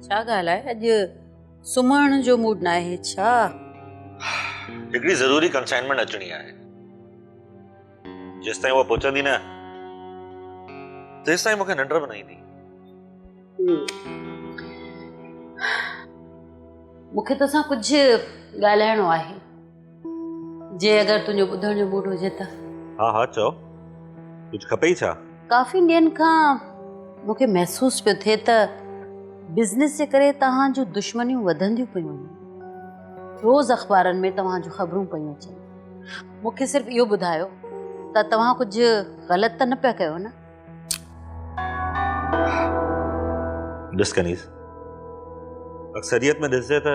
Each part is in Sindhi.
ڇا ڳالهه آهي اڄ سمهڻ جو موڊ ناهي ڇا؟ هڪڙي ضروري ڪنسائنمينٽ اچڻي آهي جيستائين اها پهچندي نه تيستائين مونکي ننڊ به نه ايندي. مونکي توسان ڪجهه ڳالهائڻو آهي. جي اگر تنهنجو ٻڌڻ جو موڊ هجي ته ها ها چئو ڪجهه کپئي ڇا ڪافي ڏينهن کان مونکي محسوس پيو ٿئي ته بزنس جي ڪري توهان جون دشمنيون وڌنديون پيون وڃن روز اخبارن ۾ توهان جون خبرون پيون اچن مونکي صرف اهو ٻڌايو ته توهان ڪجهه غلط ته نه پيا ڪيو نه ڏس ڪنيز اڪثريت ۾ ڏسجي ته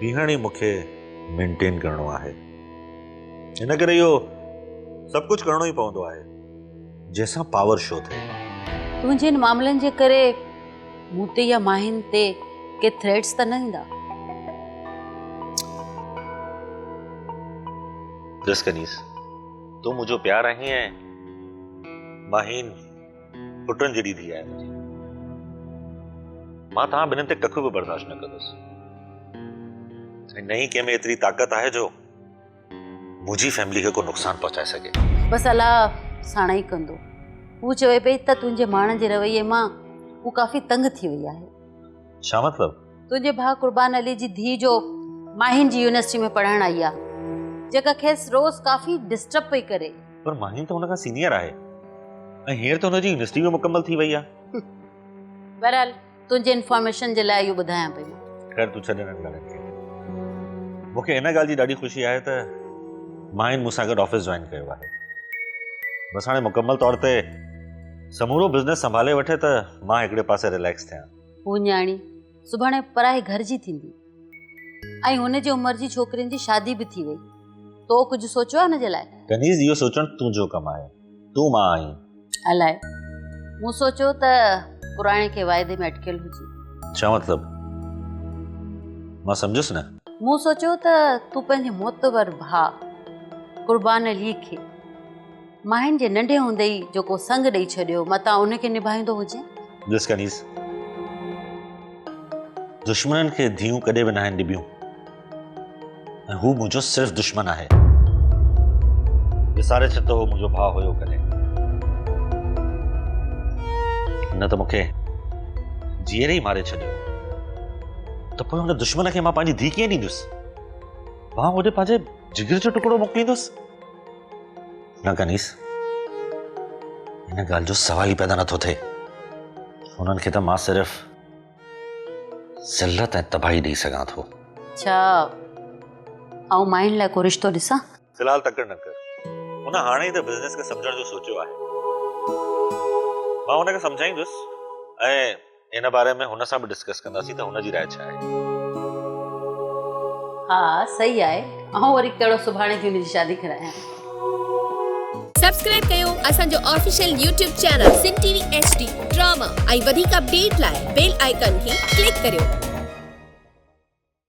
بيهڻ ئي مون کي مينٽين ڪرڻو آهي ان ڪري اهو سڀ ڪجهه ڪرڻو ئي پوندو آهي جنهن سان پاور شو ٿئي تنهنجي ان معاملن جي ڪري مون تي يا ماهين تي ڪي ٿريٽس ته نه ايندا ڏس ڪنيس تون منهنجو پيار آهين ۽ ماهين پٽن جيڏي ڌيء آهي منهنجي. مان توهان ٻنهين تي ڪک به برداشت نه ڪندس. ۽ نه ئي ڪنهن ۾ ايتري طاقت آهي جو منهنجي فيملي کي ڪو نقصان پهچائي سگهي. بس الله ساڻائي ڪندو. هوء چوي پئي ته تنهنجي ماڻهن جي رويي مان هوء ڪافي تنگ ٿي وئي آهي. ڇا مطلب؟ تنهنجي ڀاء قربان علي جي ڌيء جو ماهين جي يونيورسٽي ۾ پڙهڻ آئي آ جيڪا کيس روز ڪافي ڊسٽرب پئي ڪري پر ماهين ته هن کان سينيئر آهي ۽ هينئر ته هن جي يونيورسٽي به مڪمل ٿي وئي آ بهرحال تنهنجي انفارميشن جي لاء اهو ٻڌايان پئي خير تون ڇڏ انهن ڳالهين کي مون کي ان ڳالهه جي ڏاڍي خوشي آهي ته ماهين مون سان گڏ آفيس جوائن ڪيو آهي بس هاڻي مڪمل طور تي سمورو بزنس سنڀالي وٺي ته مان هڪڙي پاسي ريليڪس ٿيان هوء نياڻي سڀاڻي پرائي گهر جي ٿيندي ۽ هن جي عمر جي ڇوڪرين جي شادي به ٿي وئي تو ڪجهه سوچيو آهي هن جي لاء ڪنيز اهو سوچڻ تنهنجو ڪم آهي تون مان آهين الاء مون سوچيو ته پراڻي کي واعدي ۾ اٽڪيل هجي ڇا مطلب مان سمجهيس نه مون سوچيو ته تون پنهنجي معتبر ڀاء قربان علي کي ماين جي ننڍي هوندي ئي جو ڪو سڱ ڏئي ڇڏيو متان ان کي نڀائيندو هجين. بلس ڪنيز، دشمنن کي ڌيئون ڪڏهن به ناهن ڏبيون ۽ هو منهنجو صرف دشمن آهي. وساري ڇڏ ته هو منهنجو ڀاء هيو ڪڏهن. هن ته مون کي جيئري ئي ماري ڇڏيو ته پوء هن دشمن کي مان پنهنجي ڌيء ڪيئن ڏيندس؟ مان هوڏي پنهنجي جگر جو ٽڪڙو موڪليندس؟ نه کنيس ان ڳالهه جو سوال ئي پيدا نٿو ٿئي انهن کي ته مان صرف ذلت ۽ تباهي ڏيئي سگهان ٿو اچھا آئون مائن لاء ڪو رشتو ڏسان في الحال تڪڙ نه ڪر ان هاڻي ئي ته بزنس کي سمجهڻ جو سوچيو آهي مان ان کي سمجهائيندس ۽ ان باري ۾ هن سان به ڊسڪس ڪنداسين ته هن جي راء ڇا آهي. ها صحيح آهي آئون وري ڪهڙو سڀاڻي ٿي ان جي شادي ڪرايان. سبسڪرائب ڪيو اسان جو official YouTube channel Sindh T V H D drama ۽ وڌيڪ اپڊيٽ لاء بيل آئيڪان کي ڪلڪ ڪريو.